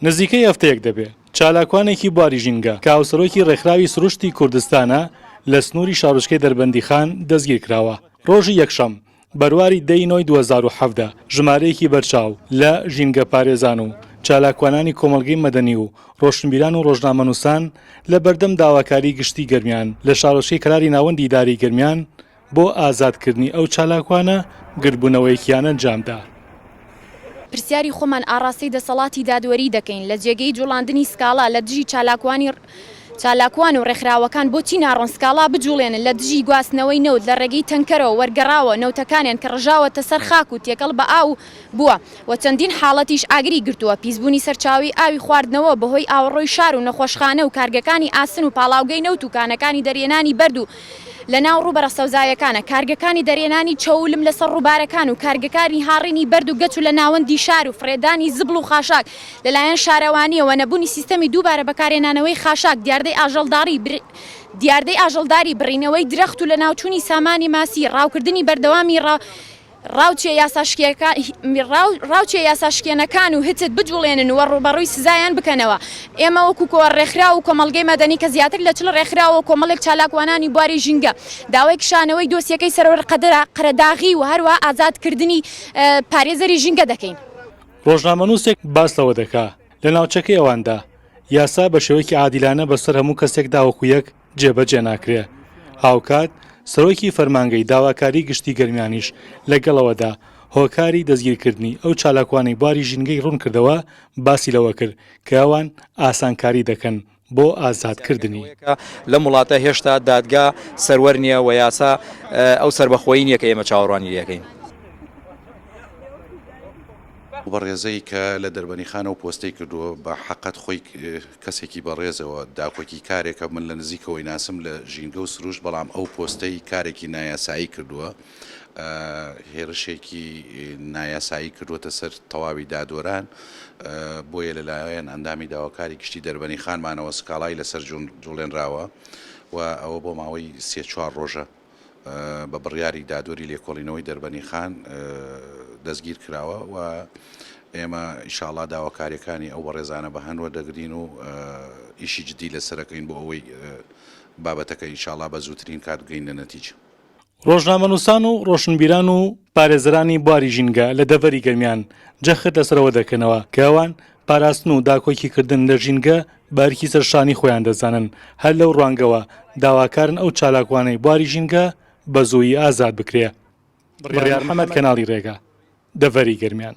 نزیکەی هەفتەیەک دەبێ چالاکوانێکی بواری ژینگە کە هاوسەرۆکی ڕێکخراوی سروشتی کوردستانە لە سنووری شارۆچکەی دەربەندیخان دەستگیر کراوە. ڕۆژی یەکشەم، بەرواری دە ی نۆی دوو هەزار و حەڤدە، ژمارەیەکی بەرچاو لە ژینگەپارێزان و چالاکوانانی کۆمەڵگەی مەدەنی و ڕۆشنبیران و ڕۆژنامەنووسان لە بەردەم داواکاری گشتی گەرمیان لە شارۆچکەی کەلاری ناوەندی ئیدارەی گەرمیان بۆ ئازادکردنی ئەو چالاکوانە گردبوونەوەیەکیان ئەنجامدا. پرسیاری خۆمان ئاڕاستەی دەسەڵاتی دادوەری دەکەین لە جێگەی جوڵاندنی سکاڵا لە دژی چالاکوانی چالاکوان و ڕێکخراوەکان بۆچی ناڕۆن سکاڵا بجوڵێنن لە دژی گواستنەوەی نەوت لە ڕێگەی تەنکەرەوە وەرگەڕاوە نەوتەکانیان کە ڕژاوەتە سەر خاک و تێکەڵ بە ئاو بووە و چەندین حاڵەتیش ئاگری گرتووە پیسبوونی سەرچاوەی ئاوی خواردنەوە بەهۆی ئاوەڕۆی شار و نەخۆشخانە و کارگەکانی ئاسن و پاڵاوگەی نەوت و کانەکانی دەرهێنانی بەرد و لەناو ڕووبەرە سەوزایەکانە، کارگەکانی دەرهێنانی چەوو لم لەسەر ڕووبارەکان و کارگەکانی هاڕینی بەرد و گەچ و لە ناوەندی شار و فڕێدانی زبڵ و خاشاک لەلایەن شارەوانییەوە، نەبوونی سیستەمی دووبارە بەکارهێنانەوەی خاشاک، دیاردەی ئاژەڵداری، دیاردەی ئاژەڵداری، بڕینەوەی درەخت و لەناوچوونی سامانی ماسی، ڕاوکردنی بەردەوامی ڕاو. ڕاوچیە یاساشکێنەکان و هتد بجوڵێنن و ڕووبەڕووی سزایان بکەنەوە. ئێمە وەکو کۆ ڕێکخراو و کۆمەڵگەی مەدەنی کە زیاتر لە چل ڕێکخراو و کۆمەڵێک چالاکوانانی بواری ژینگە داوای کشانەوەی دۆسیەکەی سەرۆر قەرەداغی و هەروەها ئازاد کردنی پارێزەری ژینگە دەکەین. ڕۆژنامەنووسێک باس لەوە دەکا لە ناوچەکەی ئەواندا یاسا بە شێوەیەکی عادیلانە بەسەر هەموو کەسێکدا وەکو یەک جێبەجێ ناکرێ. هاوکات سەرۆکی فەرمانگەی داواکاری گشتی گەرمیانیش لەگەڵەوەدا هۆکاری دەستگیرکردنی ئەو چالاکوانەی بواری ژینگەی روونکردەوە باسی لەوەکرد کە ئەوان ئاسانکاری دەکەن بۆ ئازادکردنی. لەم وڵاتە هێشتا دادگا سەروەر نییە و یاسا ئەو سەربەخۆیی نییە کە ئێمە چاوەڕوانی لێدەکەین. ئەو بەڕێزەی کە لە دەربەنیخانەوە پۆستەی کردووە بە حەقت خۆی کەسێکی بەڕێزەوە، داکۆکی کارێکە من لە نزیکەوەی ناسم لە ژینگە و سروشت، بەڵام ئەو پۆستەی کارێکی نایاسایی کردووە، هێرشێکی نایاسایی کردووەتە سەر تەواوی دادوەران، بۆیە لەلایەن ئەندامی داواکاری گشتی دەربەنیخانمانەوە سکاڵای لەسەر جوڵێنراوە و ئەوە بۆ ماوەی سێ چوار ڕۆژە. بە بڕیاری دادوەری لێکۆڵینەوەی دەربەنیخان دەستگیر کراوە و ئێمە ئیشاڵا داواکاریەکانی ئەو بەڕێزانە بە هەنوە دەگرین و ئیشی جدی لەسەرەکەین بۆ ئەوەی بابەتەکە ئیشاڵا بە زووترین کات بگەین لە نەتیجە. ڕۆژنامەنووسان و ڕۆشنبیران و پارێزەرانی بواری ژینگە لە دەڤەری گەرمیان جەخت لەسەرەوە دەکەنەوە کە ئەوان پاراستن و داکۆکیکردن لە ژینگە بەئەرکی سەرشانی خۆیان دەزانن، هەر لەو ڕوانگەوە داواکارن ئەو چالاکوانەی بواری ژینگە بەزوویی ئازاد بکرێ. بڕیار محەمەد کەناڵی ڕێگا دەڤەری گەرمیان.